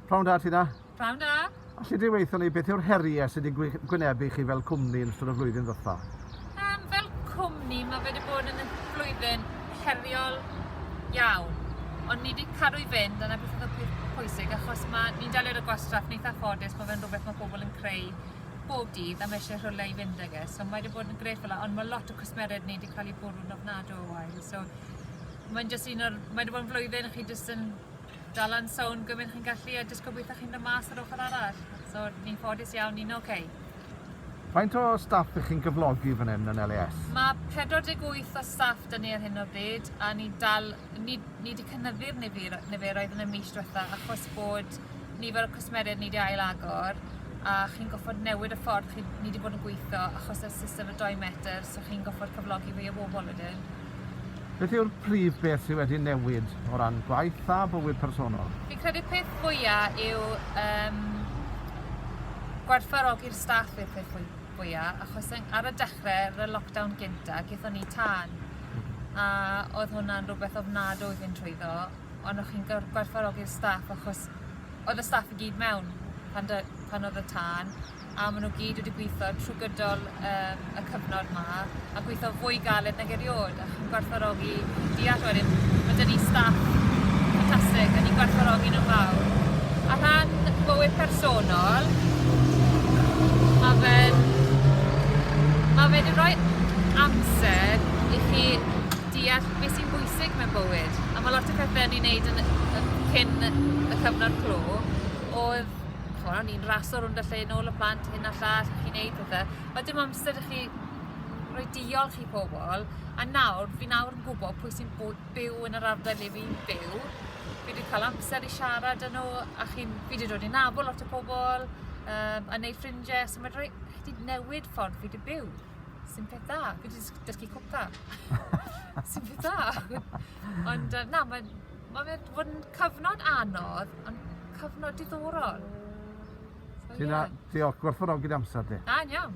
Prawn da, ti da? Prawn da. Alli di weithio ni beth yw'r heriau sydd wedi gwynebu chi fel cwmni yn ystod y flwyddyn ddoetha? Um, fel cwmni, mae wedi bod yn flwyddyn heriol iawn. Ond ni wedi cadw i fynd, dyna beth oedd y pwysig, achos mae ni'n delio y gwastraff neitha ffodus, mae fe'n rhywbeth mae pobl yn creu bob dydd a mae eisiau rhywle i fynd ag e. So mae wedi bod yn gref fel ond mae lot o cwsmeriaid ni wedi cael eu bwrw'n ofnadw o wael. So Mae'n jyst un o'r... Mae wedi bod yn flwyddyn a chi jyst yn dal yn sownd gymaint chi'n gallu a jyst gobeithio chi'n dod mas yr ochr arall. So, ni'n ffodus iawn, ni'n oce. Okay. Faint o staff ych chi'n gyflogi fan hyn yn LAS? Mae 48 o staff dyn ni ar hyn o bryd a ni dal, ni, ni wedi cynyddu'r nifer, niferoedd yn y mis diwetha achos bod nifer o cwsmeriaid ni wedi ail agor a chi'n goffod newid y ffordd chi, ni wedi bod yn gweithio achos y system y 2 metr, so chi'n goffod cyflogi fwy o bobl wedyn. Beth yw'r prif beth sydd wedi newid o ran gwaith a bywyd personol? Fi'n credu peth fwya yw um, gwerthfawrogi'r staff i'r peth fwya, achos ar y dechrau, ar y lockdown gynta, gyda ni tan, a oedd hwnna'n rhywbeth ofnadwy i fynd trwyddo, ond o'ch chi'n gwerthfawrogi'r staff achos oedd y staff i gyd mewn pan, dy, pan oedd y tân, a ma' n'w gyd wedi gwitho trw gydol yym y cyfnod 'ma a gwitho fwy galed nag eriôd a chi'n gwerthfawrogi deall wedyn ma' 'dy ni staff ffantastig a ni'n gwerthfawrogi n'w'n fawr. A rhan bywyd personol ma' fe'n ma' fe 'di roi amser i chi deall be' sy'n bwysig mewn bywyd a ma' lot o pethe o'n ni'n neud yn y cyn y cyfnod clo o'dd ch'mo' o'n i'n raso rownd y lle nôl y plant hyn a llall ac yn neud pethe a dim amser i chi roi diolch i pobol a nawr fi nawr yn gwbo pwy sy'n bw- byw yn yr ardal le fi'n byw fi 'di ca'l amser i siarad â n'w a chi'n fi 'di dod i nabol lot o pobol yym a neud ffrindie so ma' roi chi 'di newid ffordd fi 'di byw sy'n peth dda fi 'di jys dysgu cwpla. Sy'n peth dda. Ond yy na ma'n Mae fe wedi bod yn cyfnod anodd, ond cyfnod diddorol. So, Ti'n yeah. diolch, gwerthfawrogi'r amser di. Da, iawn.